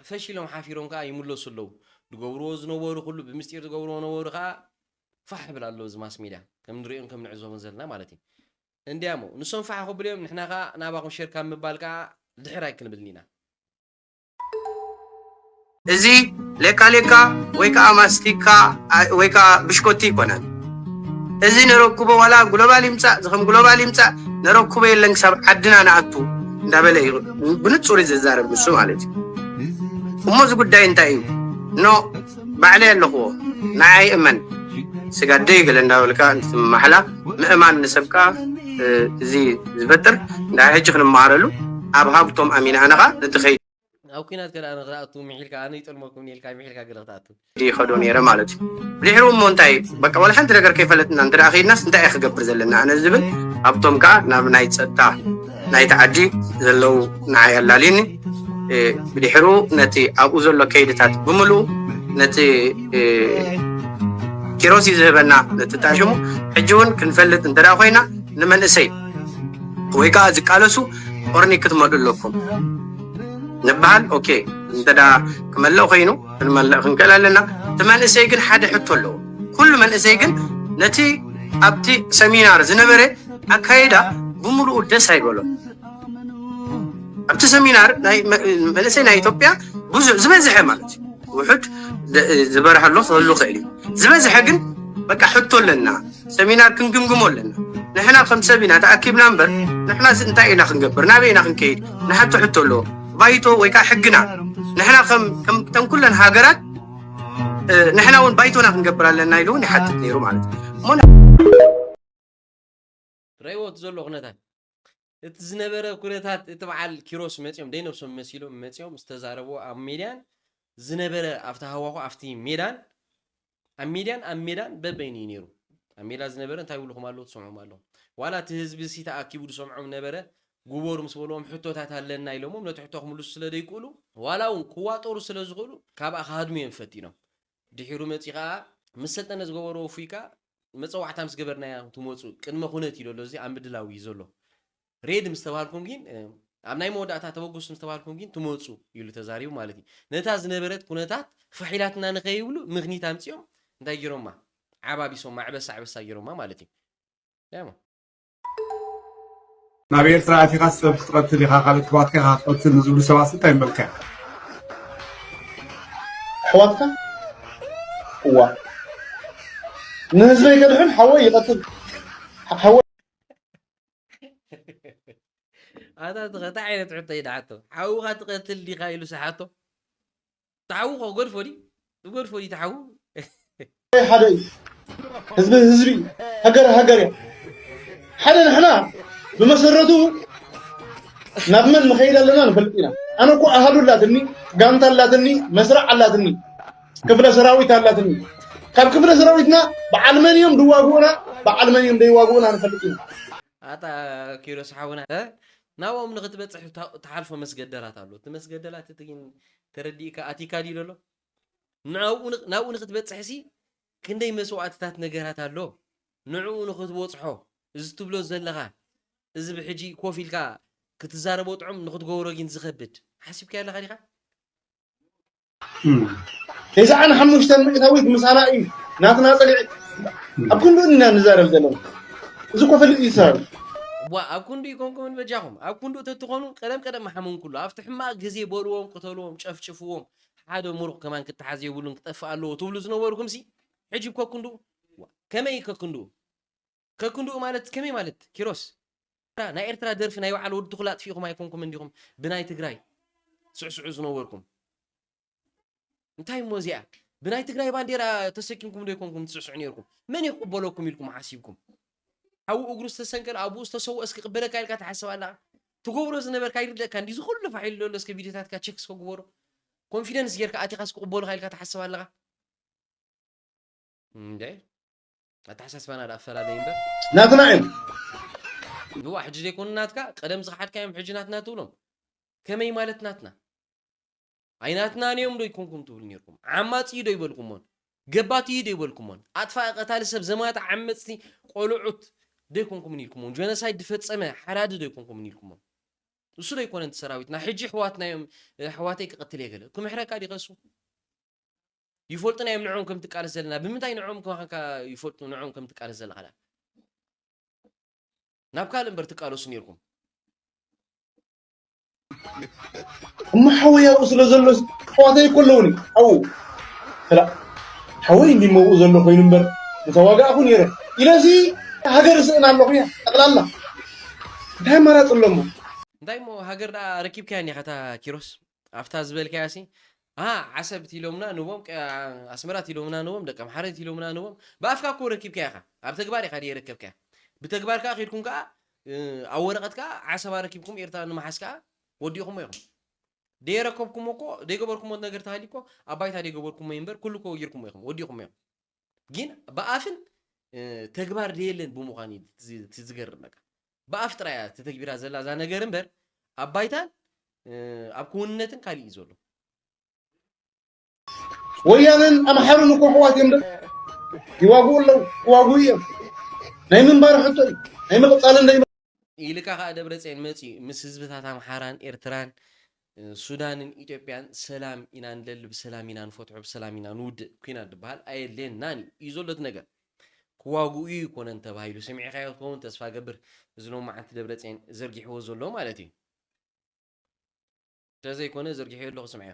ፈሺሎም ሓፊሮም ከኣ ይምለሱ ኣለዉ ዝገብርዎ ዝነበሩ ኩሉ ብምስጢር ዝገብርዎ ነበሩ ከኣ ፋሕ ይብል ኣሎ እዚ ማስ ሜድያ ከም ንርእዮን ከም ንዕዘቦን ዘለና ማለት እዩ እንድያ እሞ ንሶም ፋሕ ክብሉ እዮም ንሕና ከኣ ናባኹም ሼር ካብ ምባል ከኣ ድሕር ኣይክንብልን ኢና። እዚ ሌካ ሌካ ወይ ከኣ ማስቲካ ወይ ከኣ ብሽኮቲ ኣይኮነን እዚ ነረኩቦ ዋላ ግሎባል ይምጻእ ዝኸም ግሎባል ይምጻእ ነረኩቦ የለን ክሳብ ዓድና ንኣቱ እንዳበለ እዩ ብንጹር ዝዛረብ ንሱ ማለት እዩ እሞ እዚ ጉዳይ እንታይ እዩ ኖ ባዕለይ ኣለኹዎ ንዓይ እመን ስጋ ደይ ገለ እንዳበልካ እንትትመሓላ ምእማን ንሰብካ እዚ ዝፈጥር ንዳይ ሕጂ ክንመሃረሉ ኣብ ሃብቶም ኣሚና ኣነኻ ነቲ ኣብ ኩናት ከዳኣ ንክትኣቱ ምሒልካ ኣነ ይጠልመኩምኒ ኢልካ ምሒልካ ገለ ክትኣቱ። ይኸዶ ነይረ ማለት እዩ ድሕሩ እሞ እንታይ እዩ በቃ ዋላ ሓንቲ ነገር ከይፈለጥና እንተ ከይድናስ እንታይ እዩ ክገብር ዘለና ኣነ ዝብል ሃብቶም ከዓ ናብ ናይ ፀጥታ ናይቲ ዓዲ ዘለው ንዓይ ኣላልዩኒ ብድሕሩ ነቲ ኣብኡ ዘሎ ከይድታት ብምልኡ ነቲ ኪሮስ እዩ ዝህበና ነቲ ታሽሙ ሕጂ እውን ክንፈልጥ እንተ ኮይና ንመንእሰይ ወይ ከዓ ዝቃለሱ ቆርኒ ክትመልኡ ኣለኩም ንበሃል ኦኬ እንተ ክመልእ ኮይኑ ክንመልእ ክንክእል ኣለና እቲ መንእሰይ ግን ሓደ ሕቶ ኣለዎ ኩሉ መንእሰይ ግን ነቲ ኣብቲ ሰሚናር ዝነበረ ኣካይዳ ብምሉኡ ደስ ኣይበሎ ኣብቲ ሰሚናር መንእሰይ ናይ ኢትዮጵያ ብዙ ዝበዝሐ ማለት እዩ ውሑድ ዝበርሀሎ ክህሉ ክእል እዩ ዝበዝሐ ግን በቃ ሕቶ ኣለና ሰሚናር ክንግምግሞ ኣለና ንሕና ከም ሰብ ኢና ተኣኪብና እምበር ንሕና እንታይ ኢና ክንገብር ናበይ ኢና ክንከይድ ንሓቶ ሕቶ ኣለዎ ባይቶ ወይ ከዓ ሕግና ንሕና ከም ኩለን ሃገራት ንሕና እውን ባይቶና ክንገብር ኣለና ኢሉ እውን ይሓትት ነይሩ ማለት እዩ ረእይዎ እቲ ዘሎ ኩነታት እቲ ዝነበረ ኩነታት እቲ በዓል ኪሮስ መፂኦም ደይነብሶም መሲሎም መፂኦም ዝተዛረብዎ ኣብ ሜድያን ዝነበረ ኣብቲ ሃዋኹ ኣብቲ ሜዳን ኣብ ሜድያን ኣብ ሜዳን በበይኑ እዩ ነይሩ ኣብ ሜዳ ዝነበረ እንታይ ይብልኹም ኣለዉ ትሰምዖም ኣለኹም ዋላ እቲ ህዝቢ ሲ ተኣኪቡ ዝሰምዖም ነበረ ጉበሩ ምስ በልዎም ሕቶታት ኣለና ኢሎሞም ነቲ ሕቶ ክምልሱ ስለ ዘይክእሉ ዋላ እውን ክዋጠሩ ስለ ዝኽእሉ ካብኣ ክሃድሙ እዮም ፈቲኖም ድሒሩ መፂኡ ከዓ ምስ ሰልጠነ ዝገበርዎ እፉይ ከዓ መጸዋዕታ ምስ ገበርናያ ትመጹ ቅድመ ኩነት እዩ ደሎ እዚ ኣብ ምድላው እዩ ዘሎ ሬድ ምስ ተባሃልኩም ግን ኣብ ናይ መወዳእታ ተበገሱ ምስ ተባሃልኩም ግን ትመጹ ኢሉ ተዛሪቡ ማለት እዩ ነታ ዝነበረት ኩነታት ፈሒላትና ንኸይብሉ ምክኒት ኣምጺኦም እንታይ ጌሮማ ዓባቢሶማ ዕበሳ ዕበሳ ጌሮማ ማለት እዩ ናብ ኤርትራ ኣቲኻ ሰብ ክትቐትል ኢኻ ካልእ ኣሕዋትካ ኢኻ ክትቐትል ንዝብሉ ሰባት እንታይ ምበልካ ኢኻ ኣሕዋትካ እዋ ንህዝበይ ከድሕን ሓወይ ይቐትል ሓወይ ኣታ እንታይ ዓይነት ሕቶ እዩ ደሓቶ ሓውኻ ትቐትል ዲኻ ኢሉ ሰሓቶ ተሓዉ ከገድፎ ድዩ ዝገድፎ ድዩ ተሓዉ ሓደ እዩ ህዝቢ ህዝቢ ሃገር ሃገር እያ ሓደ ንሕና ብመሰረቱ ናብ መን ንኸይድ ኣለና ንፈልጥ ኢና ኣነ እኮ ኣሃዱ ኣላትኒ ጋንታ ኣላትኒ መስርዕ ኣላትኒ ክፍለ ሰራዊት ኣላትኒ ካብ ክፍለ ሰራዊትና በዓል መን እዮም ድዋግኡና በዓል መን እዮም ደይዋግኡና ንፈልጥ ኢና ኣታ ኪሮስ ሓውና እ ናብኦም ንክትበጽሕ ትሓልፎ መስገደላት ኣሎ እቲ መስገደላት እቲ ግን ተረዲእካ ኣቲካ ድዩ ዘሎ ንኣብኡ ናብኡ ንክትበጽሕ ሲ ክንደይ መስዋእትታት ነገራት ኣሎ ንዕኡ ንክትበጽሖ እዚ ትብሎ ዘለኻ እዚ ብሕጂ ኮፍ ኢልካ ክትዛረቦ ጥዑም ንክትገብሮ ግን ዝኸብድ ሓሲብካዮ ኣለኻ ዲኻ ተስዓን ሓሙሽተን ሚእታዊት ምሳና እዩ ናትና ፀሊዒ ኣብ ክንዱ ኢና ንዛረብ ዘለና እዚ ኮ ፍልጥ ይሰራሉ እዋ ኣብ ክንዱ ይኮንኩምን በጃኹም ኣብ ክንዱ ተትኾኑ ቀደም ቀደም ምሓመም ኩሉ ኣብቲ ሕማቕ ግዜ በልዎም ቅተልዎም ጨፍጭፍዎም ሓደ ሙሩቕ ከማን ክተሓዝ የብሉን ክጠፍእ ኣለዎ ትብሉ ዝነበርኩም ሲ ሕጂ ከክንዱ ከመይ ከክንዱ ከክንድኡ ማለት ከመይ ማለት ኪሮስ? ናይ ኤርትራ ደርፊ ናይ በዓል ወዲ ትኹል ኣጥፊእኹም ኣይኮንኩምን ዲኹም ብናይ ትግራይ ትስዕስዑ ዝነበርኩም? እንታይ እሞ እዚኣ ብናይ ትግራይ ባንዴራ ተሰኪምኩም ዶ ኣይኮንኩም ትስዕስዑ ነይርኩም? መን እዩ ክቕበለኩም ኢልኩም ሓሲብኩም? ሓዉ እግሩ ዝተሰንቀለ ኣቡኡ ዝተሰወ እስኪ ክበለካ ኢልካ ትሓስብ ኣለኻ ትገብሮ ዝነበርካ ይርደእካ እንዲ እዚ ኩሉ ፋሒሉ ዘሎ እስከ ቪድዮታትካ ቸክ እስከ ግበሮ ኮንፊደንስ ጌርካ ኣቲኻስ ክቕበሉኻ ኢልካ ትሓስብ ኣለኻ እንደ ኣተሓሳስባና ድኣ ክፈላለይ እምበር ናትና እዮም ንዋ ሕጂ ዘይኮኑ ናትካ ቀደም ዝኸሓድካዮም ሕጂ ናትና ትብሎም ከመይ ማለት ናትና ኣይናትናን እዮም ዶ ይኮንኩም ትብሉ ነርኩም ዓማፅ እዩ ዶ ይበልኩሞን ገባት እዩ ዶ ይበልኩሞን ኣጥፋኢ ቀታሊ ሰብ ዘማት ዓመፅቲ ቆልዑት ዶ ይኮንኩምን ኢልኩሞን ጀኖሳይድ ዝፈፀመ ሓራዲ ዶ ይኮንኩምን ኢልኩሞን ንሱ ዶ ይኮነን እቲ ሰራዊትና ሕጂ ሕዋትና እዮም ሕዋተይ ክቐትል እየ ገለ ክምሕረካ ዲኸሱ ይፈልጡና እዮም ንዕኦም ከም ትቃለስ ዘለና ብምንታይ ንዕኦም ከማካ ይፈልጡ ንዕኦም ከም ትቃለስ ዘለካ ድኣ ናብ ካልእ እምበር ትቃለሱ ነይርኩም እሞ ሓወይ ኣብኡ ስለ ዘሎ ኣሕዋተይ እኮ ኣለውኒ ኣብኡ ስላ ሓወይ እንዲ መብኡ ዘሎ ኮይኑ እምበር ምተዋጋእኹ ነይረ ኢለሲ ሃገር ስእና ኣለኹ እያ ጠቕላላ እንታይ ኣማራፂ ኣሎሞ እንታይ እሞ ሃገር ደኣ ረኪብካያ እኒኻ እታ ኪሮስ ኣብታ ዝበልካያ ሲ ኣሃ ዓሰብ ቲሎምና ንቦም ቀ ኣስመራ ቲሎምና ንቦም ደቂ ኣምሓረ ቲሎምና ንቦም ብኣፍካ እኮ ረኪብካያ ኢኻ ኣብ ተግባር ኢኻ ደየረከብካያ ብተግባር ከኣ ኬድኩም ከኣ ኣብ ወረቐት ከኣ ዓሰብ ኣረኪብኩም ኤርትራ ንምሓዝ ከኣ ወዲእኹሞ ኢኹም ደየረከብኩሞ እኮ ደይገበርኩሞ ነገር ተሃልዩ እኮ ኣብ ባይታ ደይገበርኩሞ እዩ እምበር ኩሉ እኮ ጌርኩሞ ኢኹም ወዲእኹሞ ኢኹም ግን ብኣፍን ተግባር ደየለን ብምዃን እዩ እቲ ዝገርም በቃ ብኣፍ ጥራይ እያ ተተግቢራ ዘላ እዛ ነገር እምበር ኣብ ባይታን ኣብ ክውንነትን ካሊእ እዩ ዘሎ ወያነን ኣምሓሩን እኮ ሕዋት እዮም ዶ ይዋግኡ ኣለዉ ክዋግኡ እዮም ናይ ምንባር ሕቶ እዩ ናይ ምቕፃልን ኢልካ ከዓ ደብረፅዮን መፂኡ ምስ ህዝብታት ኣምሓራን ኤርትራን ሱዳንን ኢትዮጵያን ሰላም ኢና ንደሊ ብሰላም ኢና ንፈትሖ ብሰላም ኢና ንውድእ ኩናት ድበሃል ኣየድልየናን እዩ እዩ ዘሎ እቲ ነገር ክዋግኡ እዩ ኮነን ተባሂሉ ሰሚዕኻዮ ትኸውን ተስፋ ገብር እዚ ሎማዓንቲ ደብረፅየን ዘርጊሕዎ ዘሎ ማለት እዩ እንተዘይኮነ ዘርጊሐዮ ኣለኹ ስምዐዮ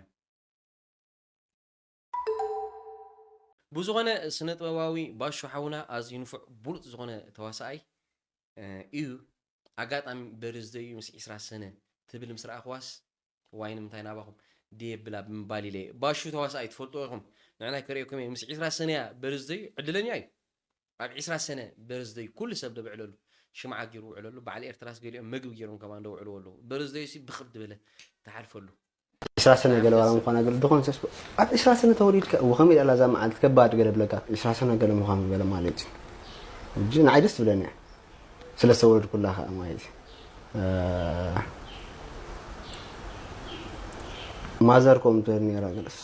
ብዝኾነ ስነጥበባዊ ባሹ ሓውና ኣዝዩ ንፉዕ ብሉጽ ዝኾነ ተዋሳኣይ ኢዩ ኣጋጣሚ በርዝደዩ ምስ ዒስራ ሰነ ትብል ምስ ረኣኽዋስ ዋይ ንምንታይ ናባኹም ደየብላ ብምባል ኢለ ባሹ ተዋሳኣይ ትፈልጥዎ ኢኹም ንዕናይ ከርእየኩም ኢየ ምስ ዒስራ ሰነያ በርዝደዩ ዕድለኛ ኢዩ ኣብ ዒስራ ሰነ በርዝደዩ ኩሉ ሰብ ዶ ብዕለሉ ሽምዓ ጌሩ ውዕለሉ በዓል ኤርትራስ ገሊኦም መግቢ ጌሮም ከማን ዶ ውዕልዎ ኣለዉ በርዝደዩሲ ብኽብ ድበለ ትሓልፈሉ ዕስራ ሰነ ገለ ዋላ ምዃና ገለ ድኾን ሰስ ኣብ ዕስራ ሰነ ተወሊድካ እወ ከመይ ዳላ እዛ መዓልቲ ከባድ ገለ ብለካ ዕስራ ሰነ ገለ ምዃኑ ገለ ማለት እዩ እጂ ንዓይ ደስ ትብለኒ እያ ስለ ዝተወለድኩላ ከዓ ማለት እዩ ማዘር ኮም ትብል ነይራ ገለስ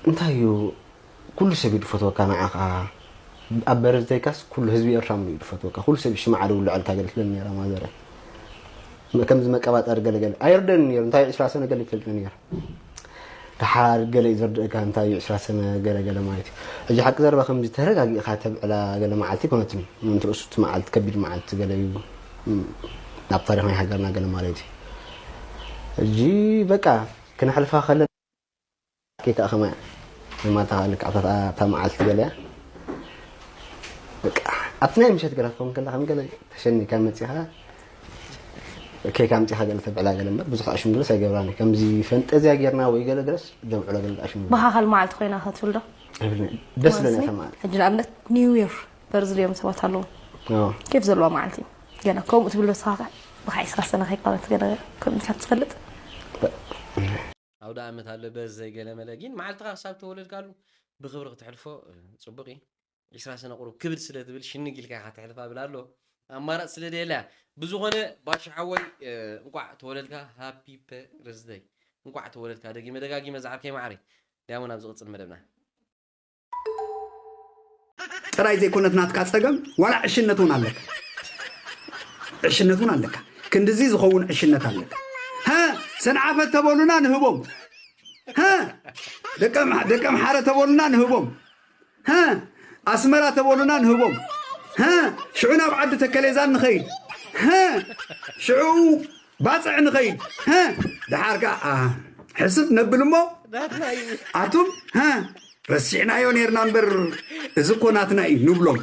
እንታይ እዩ ኩሉ ሰብ እዩ ድፈትወካ ንዓኻ ኣብ በርዝደይካስ ኩሉ ህዝቢ ኤርትራ ምሉእ እዩ ድፈትወካ ኩሉ ሰብ እዩ ሽምዓ ድውልዐልካ ገለ ትብል ኔራ ማዘረይ ከምዚ መቀባጠሪ ገለ ገለ ኣይርደን ኔሩ እንታይ ዕስራ ሰነ ገለ ይፈልጥ ኔረ ደሓር ገለ እዩ ዘርድእካ እንታይ እዩ ዕስራ ሰነ ገለ ገለ ማለት እዩ ሕጂ ሓቂ ዘረባ ከምዚ ተረጋጊእኻ ተብዕላ ገለ መዓልቲ ኣይኮነትን ምእንቲ ርእሱ እቲ መዓልቲ ከቢድ መዓልቲ ገለ እዩ ናብ ታሪኽ ናይ ሃገርና ገለ ማለት እዩ ሕጂ በቃ ክነሕልፋ ከለና ጌታ ከማይ የማታ ልክዕ ኣብታ ኣብታ መዓልቲ ገለያ በቃ ኣብቲ ናይ ምሸት ገለ ክኸውን ከላ ከም ገለ ተሸኒካ መጺኻ ኬክ ኣምጺኻ ገለ ተብዕላ ገለ እምበር ብዙሕ ኣሽሙ ገለስ ኣይገብራን ከምዚ ፈንጠዝያ ጌርና ወይ ገለ ገለስ ዘብዕሎ ገለ ኣሽሙ ብሃኸል መዓልቲ ኮይና ከትብል ዶ ኣይብልን ደስ ለኒ እታ መዓልቲ ሕጂ ንኣብነት ኒው ይር በርዚ ድዮም ሰባት ኣለዎም አዎ። ኬፍ ዘለዋ መዓልቲ እዩ ገለ ከምኡ ትብል ዶ ስኻ ብካዕስኻ ሰነኸይካ ገለ ከምካ ትፈልጥ ኣውደኣመት ኣሎ በዚ ዘይገለመለ ጊን መዓልትኻ ክሳብ ተወለድካሉ ብኽብሪ ክተሕልፎ ጽቡቅ እዪ ዒስራ ሰነ ቁሩብ ክብድ ስለ ትብል ሽንግ ኢልካ ኢኻ ተሕልፋ ብል ኣሎ ኣማራጽ ስለ ደየላ ብዝኾነ ባሻ ሓወይ እንቋዕ ተወለድካ ሃፒ ፐርዝደይ እንቋዕ ተወለድካ ደጊመ ደጋጊመ ዝዓርከይ መዓረይ ዳያውን ኣብ ዝቅጽል መደብና ጥራይ ዘይኮነት ናትካ ጸገም ዋላ ዕሽነት ውን ኣለካ ዕሽነት ውን ኣለካ ክንድዚ ዝኸውን ዕሽነት ኣለካ ሀ ሰንዓፈ ተበሉና ንህቦም ሀ ደቂ ኣምሓረ ተበሉና ንህቦም ሀ ኣስመራ ተበሉና ንህቦም ሀ ሽዑ ናብ ዓዲ ተከሌዛን ንኸይድ ሀ ሽዑ ባጽዕ ንኸይድ ሀ ደሓር ከ ሕስብ ነብል እሞ ኣቱም ሀ ረሲዕናዮ ነርና እምበር እዚ እኮ ናትና እዩ ንብሎም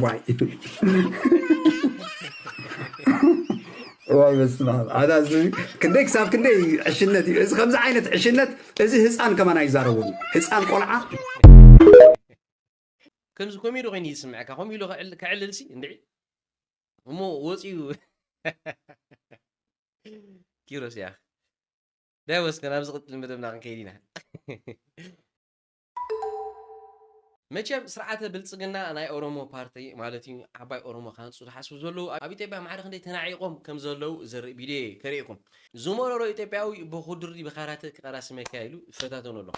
ዋይ ዋይ በስመ ኣብ ኣዳ ክንደይ ክሳብ ክንደይ ዕሽነት እዩ እዚ ከምዚ ዓይነት ዕሽነት እዚ ህፃን ከማን ኣይዛረቦም ህፃን ቆልዓ ከምዚ ኮሜዲ ኮይኑ ዝስምዐካ ከምኡ ኢሉ ከዕልልሲ እንድዒ እሞ ወፂኡ ኪሮስ ያኽ ዳይ ወስከ ናብ ዝቕፅል መደብና ክንከይድ ኢና መቸም ስርዓተ ብልጽግና ናይ ኦሮሞ ፓርቲ ማለት እዩ ዓባይ ኦሮሞ ክሃንፁ ዝሓስቡ ዘለዉ ኣብ ኢትዮጵያ ማዕረ ክንደይ ተናዒቆም ከም ዘለዉ ዘርኢ ቪድዮ እየ ከርእየኩም ዝመረሮ ኢትዮጵያዊ ብኩድሪ ብካራተ ክቀራሲ መካይሉ ይፈታተኑ ኣሎ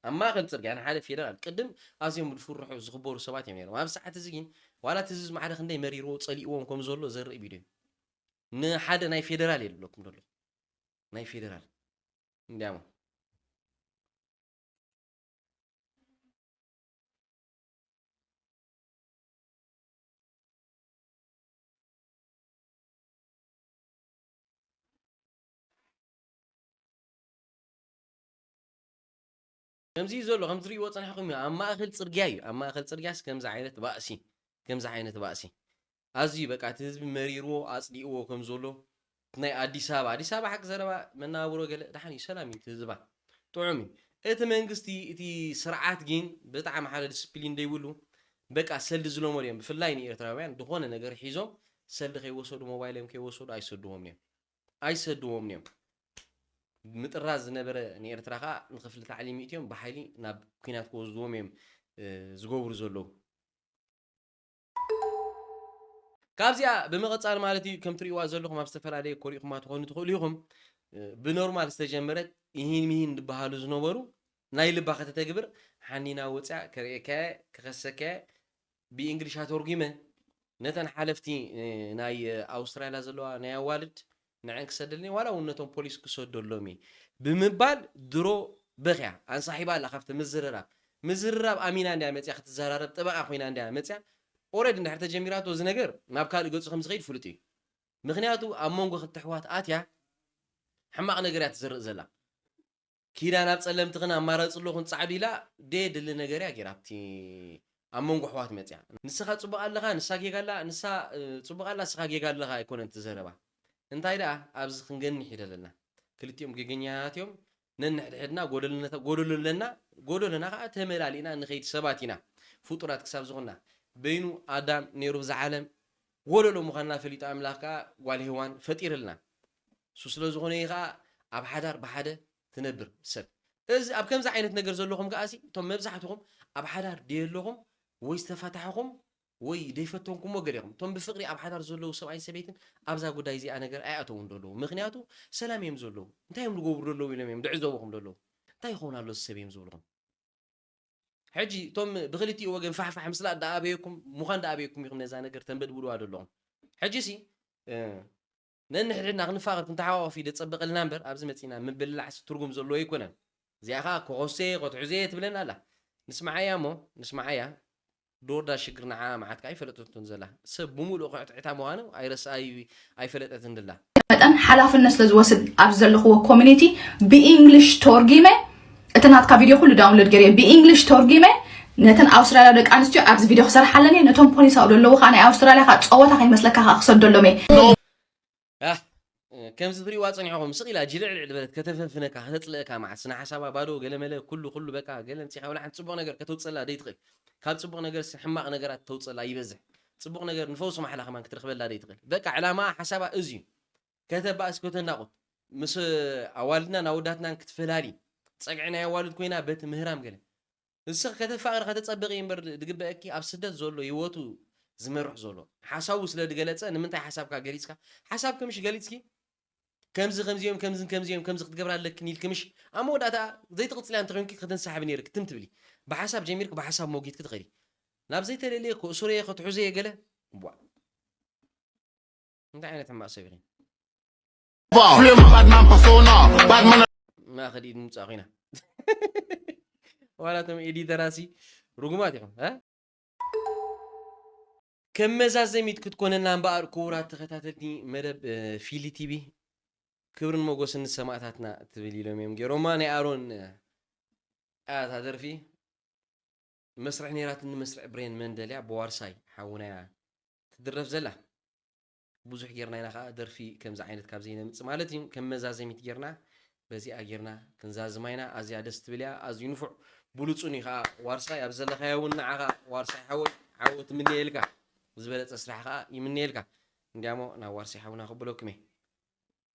ኣብ ማእከል ጽርግያ ንሓደ ፌደራል ቅድም ኣዝዮም ዝፍርሑ ዝኽበሩ ሰባት እዮም ነይሮም። ኣብዚ ሰዓት እዚ ግን ዋላ እቲ ዝዝ ማዕረ ክንደይ መሪርዎ ጸሊእዎም ከም ዘሎ ዘርኢ ቪድዮ እዩ። ንሓደ ናይ ፌደራል እየ ዝብለኩም ዘለኹ ናይ ፌደራል እንዲያሞ ከምዚ እዩ ዘሎ ከምቲ ትሪእዎ ፀኒሕኹም እዩ ኣብ ማእኸል ፅርግያ እዩ ኣብ ማእኸል ፅርግያስ ከምዚ ዓይነት ባእሲ ከምዚ ዓይነት ባእሲ ኣዝዩ በቃ እቲ ህዝቢ መሪርዎ ኣፅሊእዎ ከም ዘሎ እቲ ናይ ኣዲስ ኣበባ ኣዲስ ኣበባ ሓቂ ዘረባ መነባብሮ ገለ ደሓን እዩ ሰላም እዩ እቲ ህዝባ ጥዑም እዩ እቲ መንግስቲ እቲ ስርዓት ግን ብጣዕሚ ሓደ ዲስፕሊን ዘይብሉ በቃ ሰልዲ ዝለመዱ እዮም ብፍላይ ንኤርትራውያን ዝኾነ ነገር ሒዞም ሰልዲ ከይወሰዱ ሞባይሎም ከይወሰዱ ኣይሰድዎምን እዮም ኣይሰድዎምን እዮም። ምጥራዝ ዝነበረ ንኤርትራ ከኣ ንክፍሊ ታዕሊም ይእትዮም ብሓይሊ ናብ ኩናት ክወስድዎም እዮም ዝገብሩ ዘለዉ። ካብዚኣ ብምቕጻል ማለት እዩ ከም ትርእይዋ ዘለኹም ኣብ ዝተፈላለየ ኮሪኹማ ትኾኑ ትኽእሉ ኢኹም ብኖርማል ዝተጀመረት ይሂን ምሂን ዝበሃሉ ዝነበሩ ናይ ልባ ከተተግብር ሓኒና ወጽያ ከርእየካየ ክኸሰካየ ብእንግሊሽ ኣተርጉመ ነተን ሓለፍቲ ናይ ኣውስትራልያ ዘለዋ ናይ ኣዋልድ ንዐን ክሰደልኒ ዋላ እውን ነቶም ፖሊስ ክሰደሎም እየ ብምባል ድሮ በኽያ ኣንሳሒባ ኣላ ካብቲ ምዝርራብ ምዝርራብ ኣሚና እንድያ መፅያ ክትዘራረብ ጠበቓ ኮይና እንድያ መፅያ ኦረዲ እንድሕር ተጀሚራቶ እዚ ነገር ናብ ካልእ ገፁ ከምዝኸይድ ፍሉጥ እዩ ምኽንያቱ ኣብ መንጎ ክልተ ኣሕዋት ኣትያ ሕማቕ ነገር እያ ትዝርእ ዘላ ኪዳን ኣብ ጸለምቲ ክን ኣማረጺ ኣሎ ክን ጻዕዱ ኢላ ደየ ድሊ ነገር እያ ጌራ ኣብቲ ኣብ መንጎ ኣሕዋት መጺኣ ንስኻ ጽቡቅ ኣለኻ ንሳ ጌጋ ኣላ ንሳ ጽቡቅ ኣላ ንስኻ ጌጋ ኣለኻ ኣይኮነን እቲ ዘረባ እንታይ ደኣ ኣብዚ ክንገንሕ ይደለና ክልቲኦም ጌገኛታት እዮም ነንሕድሕድና ጎደሎ ኣለና ጎደሎና ከኣ ተመላሊእና ንኸይድ ሰባት ኢና ፍጡራት ክሳብ ዝኾንና በይኑ ኣዳም ኔሩ እዛ ዓለም ወለዶ ምዃንና ፈሊጡ ኣምላኽ ከኣ ጓል ሄዋን ፈጢርልና። እሱ ስለ ዝኾነ እዩ ከኣ ኣብ ሓዳር ብሓደ ትነብር ሰብ። እዚ ኣብ ከምዚ ዓይነት ነገር ዘለኹም ከኣሲ እቶም መብዛሕትኹም ኣብ ሓዳር ደየለኹም ወይ ዝተፋታሕኹም ወይ ደይፈተንኩሞ ገለ ኢኹም። እቶም ብፍቕሪ ኣብ ሓዳር ዘለዉ ሰብኣይን ሰበይትን ኣብዛ ጉዳይ እዚኣ ነገር ኣይኣተዉን ደለዉ። ምኽንያቱ ሰላም እዮም ዘለዉ። እንታይ እዮም ዝገብሩ ደለዉ ኢሎም እዮም ድዕዘቡኹም ደለዉ። እንታይ ይኸውን ኣሎ እዚ ሰብ እዮም ዝብሉኹም። ሕጂ እቶም ብክልቲኡ ወገን ፋሕፋሕ ምስላ ደኣ ኣበየኩም ምዃን ደኣ ኣበየኩም ኢኹም ነዛ ነገር ተንበድብድዋ ዘለኹም ሕጂሲ ነንሕድሕድና ክንፋቐር ክንተሓቋቖፍ ኢለ ዝጸበቐልና እምበር ኣብዚ መጺእና ምብልላዕሲ ትርጉም ዘለዎ ኣይኮነን እዚኣ ከኣ ኮኾሴ ኮትሑዜ ትብለና ኣላ ንስምዓያ እሞ ንስምዓያ ዶርዳ ሽግር ንዓኣ ምዓት ከኣ ኣይፈለጠቶን ዘላ ሰብ ብሙሉኡ ክዕትዕታ ምዃኑ ኣይፈለጠትን ድላ። መጠን ሓላፍነት ስለ ዝወስድ ኣብዚ ዘለኽዎ ኮሚኒቲ ብኢንግሊሽ ቶርጊመ እቲ ናትካ ቪድዮ ኩሉ ዳውንሎድ ገይረዮ ብኢንግሊሽ ቶርጊመ ነተን ኣውስትራልያዊ ደቂ ኣንስትዮ ኣብዚ ቪድዮ ክሰርሓለን እየ ነቶም ፖሊስ ኣብኡ ዘለዉ ከዓ ናይ ኣውስትራልያ ከዓ ፀወታ ከይመስለካ ከዓ ክሰደሎም እየ ኣሕ ከምዚ ትሪእዋ ጸኒሕኹም ስቅ ኢላ ጅልዕልዕ በለት ከተፈንፍነካ ከተጽልእካ መዓት ስነ ሓሳባ ባዶ ገለ መለ ኩሉ ኩሉ በቃ ገለ ንጺሕካ ወላ ሓንቲ ጽቡቅ ነገር ከተውጽእላ ደይትኽእል ካብ ጽቡቅ ነገርሲ ሕማቅ ነገራት ተውጽእላ ይበዝሕ ጽቡቅ ነገር ንፈውሲ ማሕላ ከማን ክትረኽበላ ደይትኽእል በቃ ዕላማኣ ሓሳባ እዚዩ ከተባእስ ከተናቁት ምስ ኣዋልድናን ኣወዳትናን ክትፈላሊ ጸግዒ ናይ ኣዋልድ ኮይና በቲ ምህራም ገለ ንስኺ ከተፋቅሪ ከተጸብቂ እምበር ድግበኣኪ ኣብ ስደት ዞሎ ሂወቱ ዝመርሕ ዞሎ ሓሳቡ ስለ ድገለጸ ንምንታይ ሓሳብካ ገሊጽካ ሓሳብኪ ምሽ ገሊጽኪ ከምዚ ከምዚ እዮም ከምዝን ከምዚ እዮም ከምዚ ክትገብራ ኣለክን ኢልኪ ምሽ ኣብ መወዳእታ ዘይትቅጽልያ እንተኮይንኪ ክትንሳሓቢ ነይርኪ ትም ትብሊ ብሓሳብ ጀሚርኪ ብሓሳብ ሞጊትኪ ትከዲ ናብ ዘይተለልየ ክእሱረየ ከትሑዘየ ገለ ቧእ እንታይ ዓይነት ሕማቅ ሰብ ኢኺ ማኸዲ ንምፃእ ኮይና ዋላቶም ኤዲተራሲ ርጉማት ኢኹም ከም መዛዘሚት ክትኮነና እምበኣር ክቡራት ተኸታተልቲ መደብ ፊሊ ቲቪ ክብርን መጎስን ንሰማእታትና ትብል ኢሎም እዮም ገይሮማ ናይ ኣሮን ኣታ ደርፊ መስርሕ ነይራትኒ መስርዕ ብሬን መንደልያ ብዋርሳይ ሓውናያ ትድረፍ ዘላ ብዙሕ ጌርና ኢና ከኣ ደርፊ ከምዚ ዓይነት ካብ ዘይነምጽ ማለት ኢዩ ከም መዛዘሚት ጌርና በዚኣ ጌርና ክንዛዝማ ኢና ኣዝያ ደስ ትብል ኢያ ኣዝዩ ንፉዕ ብሉጹን ኢዩ ከኣ ዋርሳይ ኣብ ዘለኻዮ ውን ንዓኻ ዋርሳይ ሓወይ ዓወት እምነየልካ ዝበለጸ ስራሕ ከኣ ይምነየልካ እንድያሞ ናብ ዋርሳይ ሓውና ከብለኩም ኢየ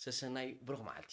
ሰሰናዩ ብሩኽ መዓልቲ።